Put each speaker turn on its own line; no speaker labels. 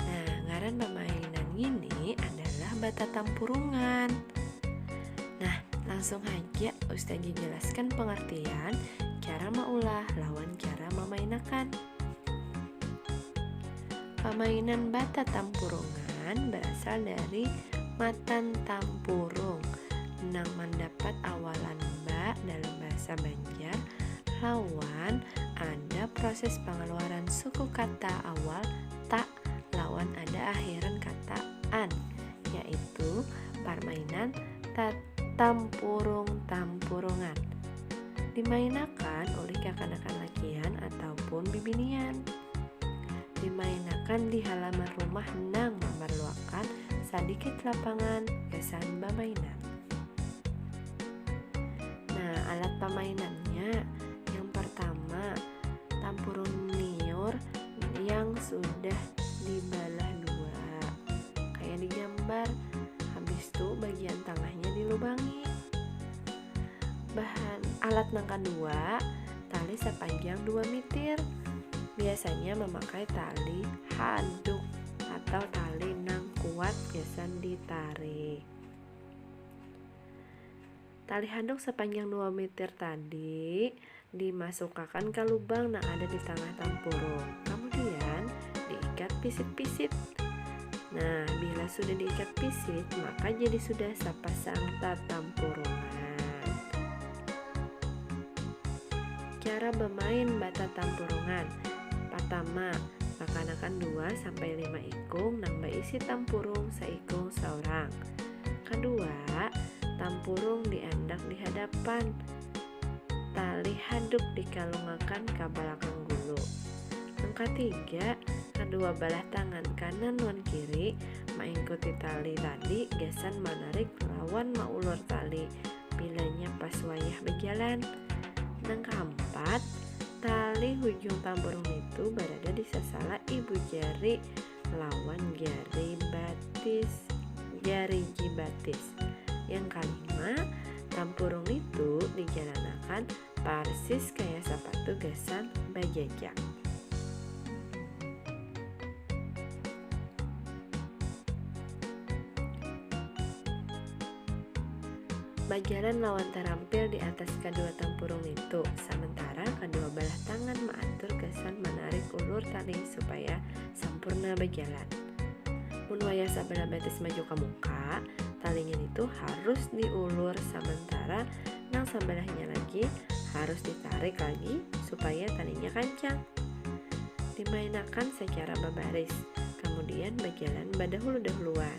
Nah, ngaran pamainan ini adalah bata tampurungan. Nah, langsung haja Ustaz jelaskan pengertian cara maulah lawan cara memainakan. Pamainan bata tampurungan berasal dari matan tampurung nang mendapat awalan ba dalam bahasa Banjar. belajar lawan ada proses pengeluaran suku kata awal tak lawan ada akhiran kata an yaitu parmainan tatampurung tampurungan dimainakan ulih kakanakan lakian ataupun bibinian dimainakan di halaman rumah nang mamarluakan sadikit lapangan gasan bamainan. Nah, alat pamainannya yang pertama tampurun liur yang sudah dibalah dua kayak digambar habis itu bagian tengahnya dilubangi bahan alat yang kedua tali sepanjang 2 meter biasanya memakai tali handuk atau tali nang kuat biasa ditarik Tali handuk sapanjang dua mitir tadi dimasukakan ka lubang nang ada di tangah tampurung, kamudian diikat pisit-pisit. Nah, bila sudah diikat pisit, maka jadi sudah sapasang tatampurungan. Cara bamain batatampurungan. Patama, bakanakan dua sampai lima ikung nang baisi tampurung saikung saurang. Kedua, tampurung diandak di hadapan, tali haduk dikalungakan ka balakang gulu. Nang katiga, kadua balah tangan kanan wan kiri maingkuti tali tadi gasan manarik lawan maulur tali bilanya pas wayah bajalan. Nang kaampat, tali hujung tampurung nitu barada di sasala ibu jari lawan jari batis jari jibatis yang kalima tampurung itu dijalanakan parsis kaya sapatu gasan bajajak Bajalan lawan tarampil di atas kadua tampurung nitu, samantara kadua balah tangan maatur gasan manarik ulur tali supaya sampurna bajalan. Mun wayah sabalah batis maju ka muka, talinya nitu harus diulur samantara nang sabalahnya lagi harus ditarik lagi supaya talinya kancang. Dimainakan sacara babaris, kamudian bajalan badahulu-dahuluan.